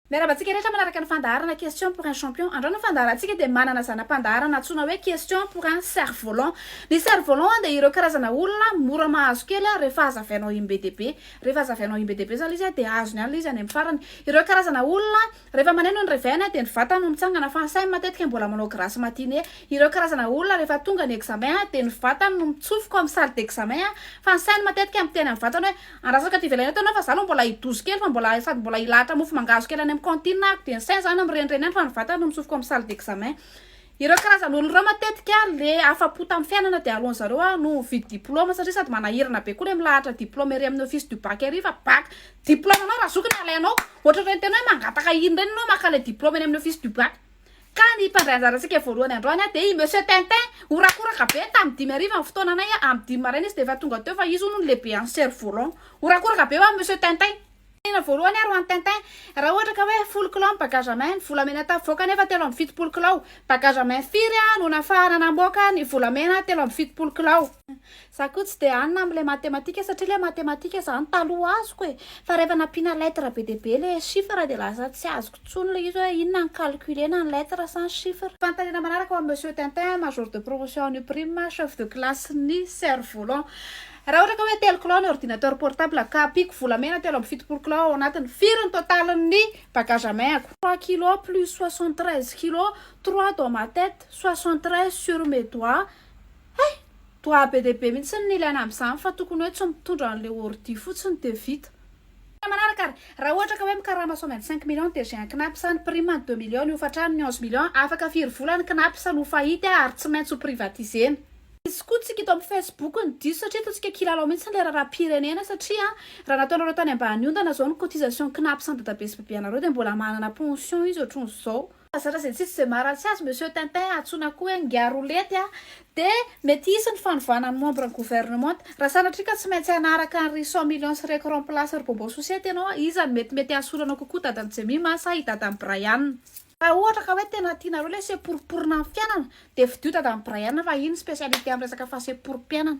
Miarahaba antsika rehetra manaraka ny fandaharana Question pour un champion. Androany ny fandaharantsika dia manana zana-pandaharana antsoina hoe Question pour un cerf volant. Ny cerf volant dia ireo karazana olona mora mahazo kely rehefa hazavainao iny be dia be. Rehefa hazavainao iny be dia be zany izy dia azony any ilay izy any amin'ny farany. Ireo karazana olona rehefa maneno ny réveil-ny dia ny vatany no mitsangana fa ny sainy matetika mbola manao grasse matinée. Ireo karazana olona rehefa tonga ny examen dia ny vatany no mitsofoka ao amin'ny salle d'examen fa ny sainy matetika miteny amin'ny vatany hoe Andrasako aty ivelany aty ianao fa za aloha mbola hidozy kely fa mbola sady mbola hilahatra mofo mangahazo kely any amin'ny cantine aho dia ny saina zany mirenireny any fa ny vatana no notsofiko amin'ny salle d'examen. Ireo karazan'olona ireo matetika le afa-po tamin'ny fiainana dia aleon'ny zareo aho no mividy diploma satria sady manahirana be koa le milahatra diploma ery amin'ny office du bac ery fa bac diploma anao raha zoky no alainao. Ohatr'ireny tena hoe mangataka iny ireny ianao maka le diploma eny amin'ny office du bac. Ka ny mpandray anjarantsika voalohany androany dia i Monsieur Tintin. Horakoraka be tamin'ny dimy hariva ny fotoana anay, amin'ny dimy maraina izy dia efa tonga teo fa izy hono no lehibe any Cerf Volant. Horakoraka be ho'a Monsieur Tintin. Tena voalohany ary hoan'i Tintin. Raha ohatra ka hoe folo kilao ny bagage à main, ny volamena tavoaka anefa telo amby fitopolo kilao. Bagage à main firy no nafahana namoaka ny volamena telo amby fitopolo kilao? Za koa tsy dia any na amin'ilay matematika satria ilay matematika izany taloha azoko e! Fa rehefa nampiana lettre be dia be ilay chiffre dia lasa tsy azoko intsony ilay izy hoe inona ny calcule na ny lettre sa ny chiffre. Fanontaniana manaraka ho an'i Monsieur Tintin, Major de promotion en UPRIME, Chef de classe-n'ny Cerf volant. Raha ohatra ka hoe telo kilao ny ordinateur portable ka ampiako volamena telo amby fitopolo kilao ao anatiny, firy ny totalin'ny bagage à main-ako? Trois kilos plus soixante treize kilos, trois dans ma tête, soixante treize sur mes doigts. Hay! Toa be dia be mihitsy ny ilaina amin'izany fa tokony hoe tsy mitondra an'ilay ordi fotsiny dia vita. Tena manaraka ary raha ohatra ka hoe mikarama sao maintsy cinq millions dia j'ai un knapp sa ny prime ny deux millions ny hofantrano ny onze millions afaka firy vola ny knapp sa no faillite ary tsy maintsy ho privatisena. Misy koa tsika eto amin'ny facebook ny diso satria ataontsika kilalao mihitsy ilay raharaham-pirenena satria raha nataonareo tany ambany ondana izao ny cotisation knapp sa ny dadabe sy bebeanareo dia mbola manana pension izy ohatran'izao. Aza razentsy tsy dia maharatsy azy Monsieur Tintin antsoina koa hoe Ngiarolety a! de mety hisy ny fanovana ny membre ny gouvernementa. Raha sanatria ka tsy maintsy hanaraka an ry cent millions sy reko remplace ry Bobo Sosety ianao a! iza no mety mety hahasolo anao kokoa dadan'i Jemima sa i dadan'i Brian? Raha ohatra ka hoe tena tianareo ilay seporiporiana amin'ny fiainana dia fidio dadan'i Brian fa iny ny specialité amin'ny resaka fahaseporipiainana.